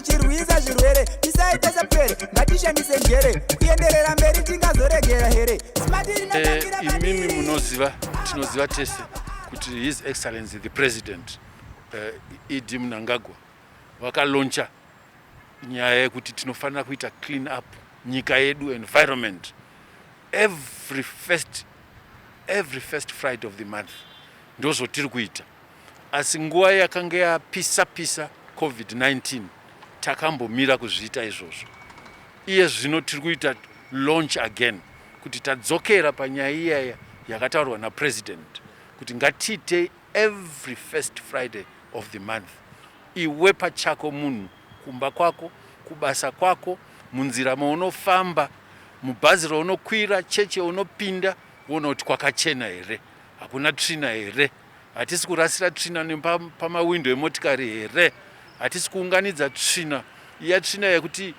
chirwisa zvirwere tisaita sapere ngatishandise njere kuenderera mberi tingazoregera here eh, imimi munoziva tinoziva tese kuti his excellency the president eh, ed mnangagwa vakaloncha nyaya yekuti tinofanira kuita clean up nyika yedu environment every first, every first friday of the month ndozvotiri kuita Asi nguva yakanga yapisa pisa Covid-19 takambomira kuzviita izvozvo. Iye zvino tiri kuita launch again kuti tadzokera panyaya iyaya yakataurwa naPresident kuti ngatiitei every first Friday of the month. Iwe pachako munhu kumba kwako, kubasa kwako, munzira maunofamba, mubhazi raunokwira, chechi yaunopinda woona kuti kwakachena here, hakuna tsvina here. Hatisi kurasira tsvina nepamawindo emotikari here? Hatisi kuunganidza tsvina iya tsvina yekuti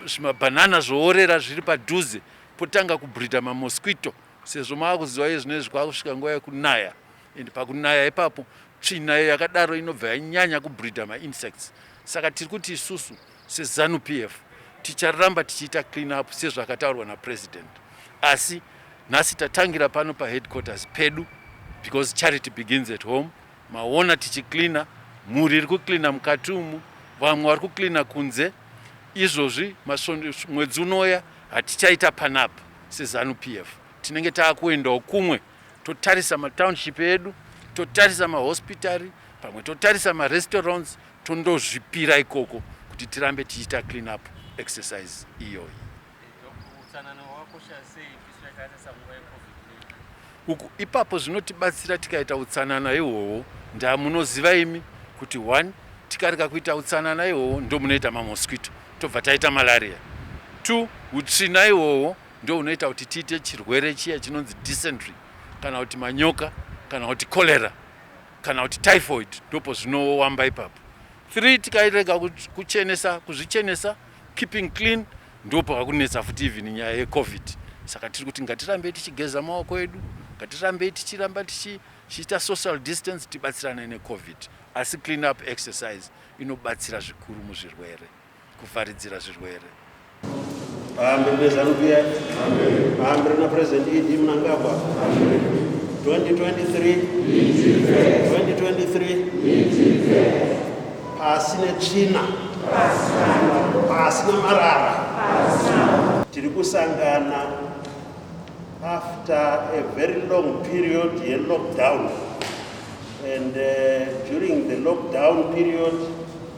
zvimabhanana zvoorera zviri padhuze potanga kubridha mamosquito sezvo maakuziva iye zvino izvi kwakusvika nguva yekunaya and pakunaya ipapo tsvina iyo yakadaro inobva yanyanya kubridha mainsects saka tiri kuti isusu SeZanu PF ticharamba tichiita clean up sezvakataurwa naPresident asi nhasi tatangira pano paheadquarters pedu because charity begins at home. Maona tichicleaner, mhuri iri kucleaner mukati umu, vamwe vari kucleaner kunze. Izvozvi mwedzi unoya hatichaita panapa seZanu PF, tinenge taakuendawo kumwe totarisa matownship edu totarisa mahospitari pamwe totarisa marestaurants tondozvipira ikoko kuti tirambe tichiita clean up exercise iyoyi uku ipapo zvinotibatsira tikaita utsanana ihwohwo ndaa munoziva imi kuti one tikarega kuita utsanana ihwohwo ndo munoita mamosquito tobva taita malaria two utsvina ihwohwo ndo unoita kuti tiite chirwere chiya chinonzi dysentery kana kuti manyoka kana kuti cholera kana kuti typhoid ndopo zvinowamba ipapo three tikairega kuchenesa kuzvichenesa keeping clean ndopo vakunetsa futi even nyaya yecovid saka tiri kuti ngatirambei tichigeza maoko edu ngatirambei tichiramba tichiita social distance tibatsirane necovid asi clean up exercise inobatsira zvikuru muzvirwere kuvharidzira zvirwere. Pamberi peZanu PF, pamberi naPresident ED Mnangagwa, 2023 2023 pasi netsvina, pasi namarara, tiri kusangana after a very long period yelockdown and uh, during the lockdown period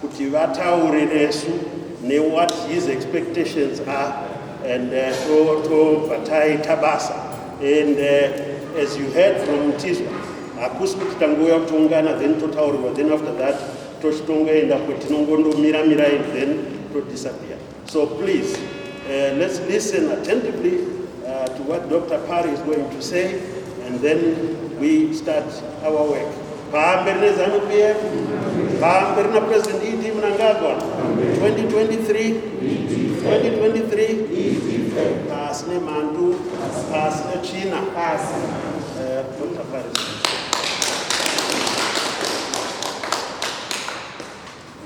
kuti vataure nesu ne what his expectations are and uh, tobva taita basa and uh, as you heard from mtizwa hakusi kuti tangouya kutoungana then totaurirwa then after that tochitongoenda kuti tinongondomira mira and then todisappear So please, uh, let's listen attentively uh, to what Dr. Parry is going to say and then we start our work. Pamberi nezanu PF, pamberi na President ED Mnangagwa, 2023, 2023, pasi nemandu, pasi nechina, pasi. Uh, Dr. Parry.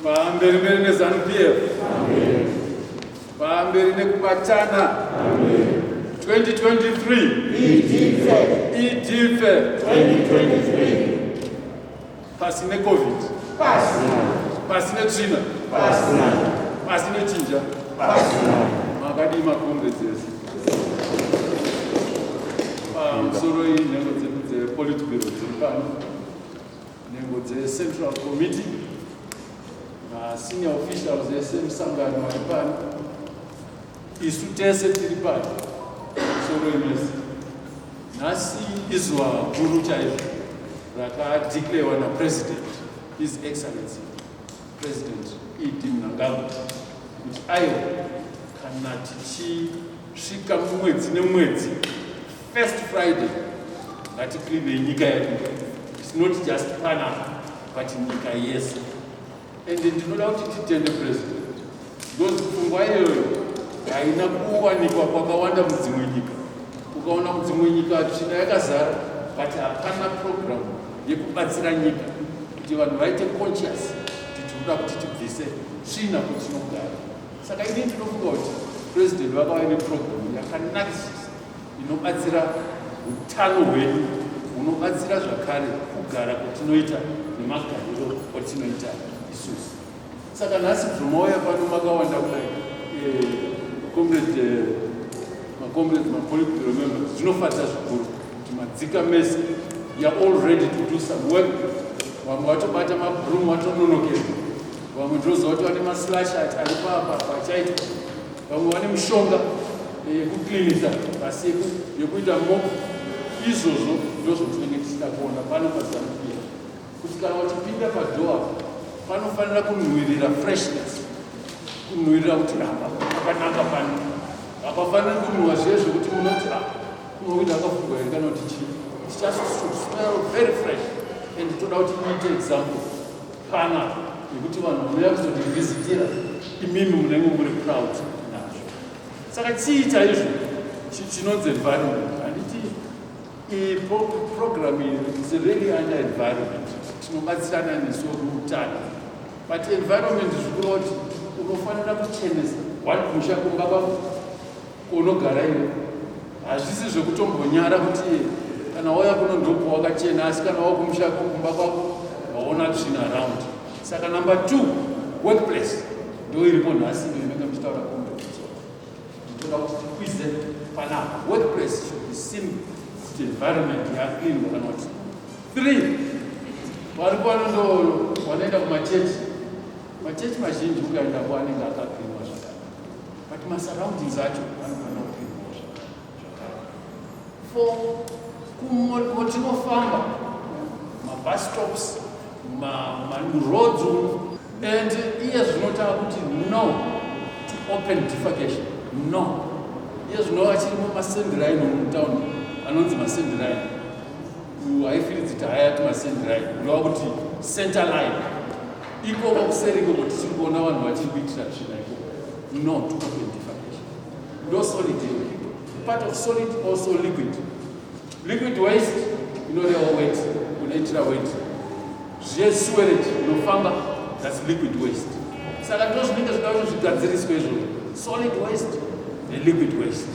Pamberi mberi nezanu PF. Pamberi nekubatana. 2023. Idife. Idife. 2023. Pasi neCovid. Pasi. Pasi netsvina. Pasi. Pasi nechinja. Pasi. Makadii makombe dzese. Pamusoro iyi nhengo dzepolitbiro dziri pano. nhengo dzeCentral Committee masenior officials ese musangano ari pano isu tese tiri pano soroinesi nhasi izuva guru chaizvo rakadiklewa napresident his excellency president ed mnangagwa kuti aiwa kana tichisvika mumwedzi nemwedzi First Friday ngatikline nyika yedu its not just panama but nyika yese and ndinoda kuti titende president because pfungwa iyoyo haina kuwanikwa kwakawanda mudzimwe nyika ukaona mudzimwe nyika tsvina yakazara but hapana program yekubatsira nyika kuti vanhu vaite conscious kuti tinoda kuti tibvise tsvina kutinogara saka ini ndinofunga kuti president vakava neprogram yakanakisisa inobatsira utano hwedu hunobatsira zvakare kugara kwatinoita nemagariro kwatinoita isusu saka nhasi bvumauya pano makawanda kudai eh, comrade eh, macomrade mapolitburo members zvinofadza zvikuru kuti madzika mese youare all ready to do some work vamwe vatobata mabroom vatononokera vamwe ndozova kuti vane maslash ati ari paapa pachaitwa vamwe vane mishonga eh, yekuklinisa pasiku yekuita mop izvozvo ndozvotinenge tichida kuona pano pazamupia kuti kana wachipinda padoa panofanira kunhuwirira freshness kunhuwirira kuti apa pakanaka pano hapafaniri kunhuwa zviye zvekuti munoti a ah, unokuita akafungwa here kana kuti chii tichasmell very fresh and toda kuti iite example Kana nekuti vanhu vanouya kuzondivhizitira imimi munenge muri proud nazvo. Saka chii chaizvo chinonzi environment? Handiti program is really under environment, tinobatsirana nesu kuutano, but environment zvikuroti unofanira kuchenesa one musha kumba kwako Unogara iwe. Hazvisi zvekutombonyara kuti kana wauya kuno ndopo wakachena asi kana wakumusha kumba kwako waona tsvina around. Saka number 2 workplace ndio iripo nhasi ndio inenge mchitaura kwa mtu nditoda kuti tikwize panapa workplace should be seen kuti environment ya clean kana kuti three vari pano ndo wanoenda kumachechi machechi mazhinji ukaenda ko anenge akaklinwa zvakanaka but masurroundings acho anofanira kupindwawo zvakare for kumotinofamba mabus stops maroads and iye zvinotava kuti no to open defecation no iye zvinova chirimo masendirain omutown anonzi masendirain haifiridzi tahayati masendirain ndova kuti center line Ikoko kuseri ikoko tichiri kuona vanhu vachiri kuitira tsvina ikoko. No to open defamation. No solid liquid. Part of solid also liquid. Liquid waste inorewa weight, unoitira weight. Zviye sewerage unofamba that's liquid waste. Saka ndozvinenge zvinoda kuti zvigadziriswe izvozvo. Solid waste neliquid waste.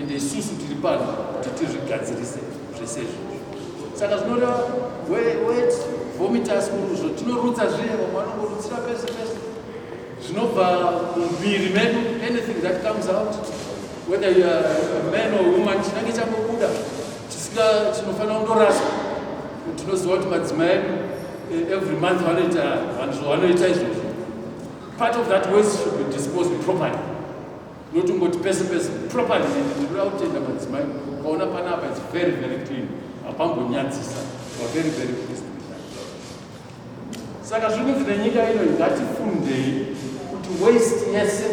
ende isusu tiri pano kuti tizvigadzirise zvese izvozvo saka zvinoreva wet vomitas kuruzvo tinorutsa zviye vamwe vanongorutsira pese pese zvinobva mumuviri medu anything that comes out whether you are a man or woman chinange changobuda tisika chinofanira kundoraswa tinoziva kuti madzima edu eh, every month vanoita vanhu zvovanoita izvozvo part of that waste should be disposed properly Notungoti pese pese properly and ndinoda kutenda madzimai ukaona panapa it's very very clean hapambonyadzisa wa very very pleased with that saka zviri kunzi nenyika ino ngatifundei kuti waste yese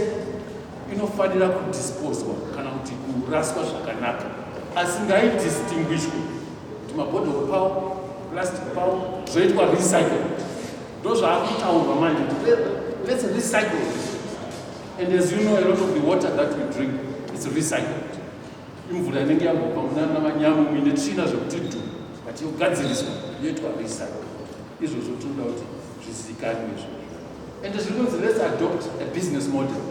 inofanira kudisposwa kana kuti kuraswa zvakanaka asi ngaidistinguishwe kuti mabhodhoro pawo plastic pawo zvoitwa recycle ndozvaakutaurwa manje kuti let's recycle And as you know, a lot of the water that we drink is recycled. Imvura inenge yangobva munana manyamu muine tsvina zvekuti dhu but yogadziriswa yoitwa recycle. Izvozvo tinoda kuti zvizikanwe izvozvo. And zviri kunzi let's adopt a business model.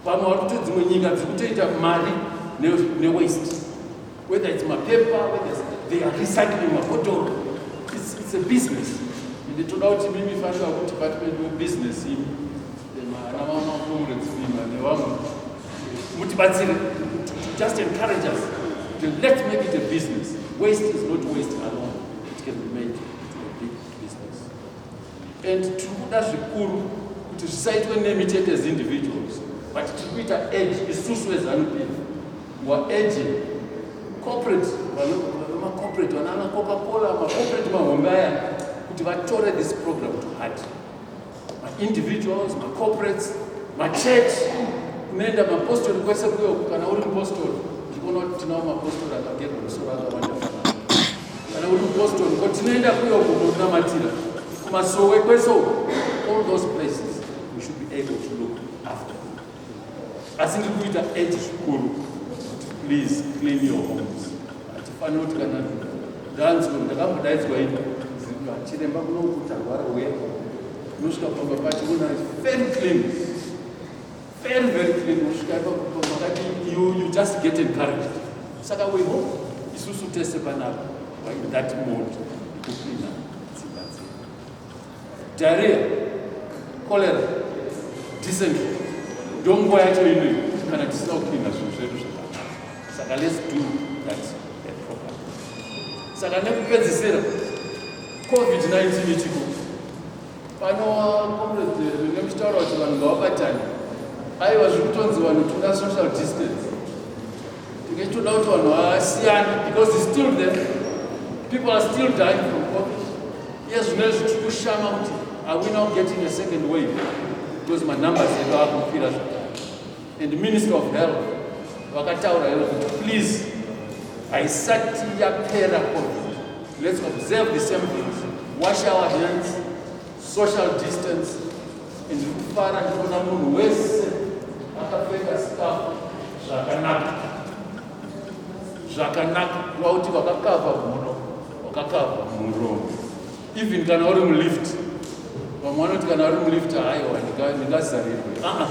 Pamwe vari kuto dzimwe nyika dziri kutoita mari newaste. Whether it's mapepa, whether it's, they are recycling mabottle. It's, it's a business. And toda kuti mimi fanira kuti department webusiness imi mutibatsire just encourage us let's make it a business waste is not waste alone it can be made to a big business and tiri kuda zvikuru kuti zvisaitwe nemi chete as individuals but tiri kuita age isusu ezanupf wa age corporate vemacorporate vanaana coca cola macorporate mahombe aya kuti vatore this program to heart maindividuals macorporates machurch kunoenda mapostori kwese kuyo kana uri mupostori ndikuona kuti tinawo mapostori akagerwa musoro akawanda kana uri mupostori ko tinoenda kuyo kunonamatira kumasowe kwese all those places we should be able to look after asi ndiri kuita age zvikuru kuti please clean your homes hatifaniri kuti kana ndanzwa ndakambodaidzwa ii chiremba kunokuti arwara uye unosvika pamba pacho una very clean very very clean unosvika pakati you, you just get encouraged saka we hope isusu tese panapa in that mode kucleana Diarrhea, cholera, dysentery ndonguva yacho inoyi kana tisina kupinda zvinhu zvedu zvakanaka saka let's do that program saka nekupedzisira covid-19 ichiko pano comrade venge muchitaura kuti vanhu ngavabatane aiwa zviri kutonzi vanhu tuna social distance Tinge tichitoda kuti vanhu vasiyane because it's still there. People are still dying from COVID. Yes, zvino izvi tiri kushama kuti are we now getting a second wave because manumbers edu akukwira zvakare. And Minister of Health vakataura ivo kuti please haisati yapera COVID. Let's observe the same things. Wash our hands. social distance and kufara ndiona munhu wese akapfeka sikafu zvakanaka zvakanaka kuva kuti vakakava mhuno wakakava muromo even kana uri mulift vamwe vanoti kana uri mulift haiwa ndingazarirwe aa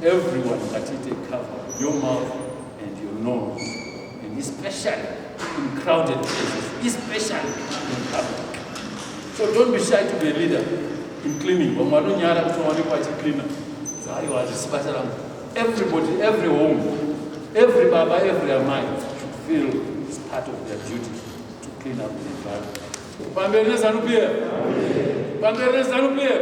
everyone ngatiite cover your mouth and your nose And especially in crowded places, especially in public. So don't be shy to be a leader in cleaning. Vamwe vanonyara kuti waonekwa achicleaner. Aiwa hazvisi basa rangu. Everybody, every home, every baba, every amai should feel it's part of their duty to clean up the environment. Pamberi neZanu PF. Pamberi neZanu PF.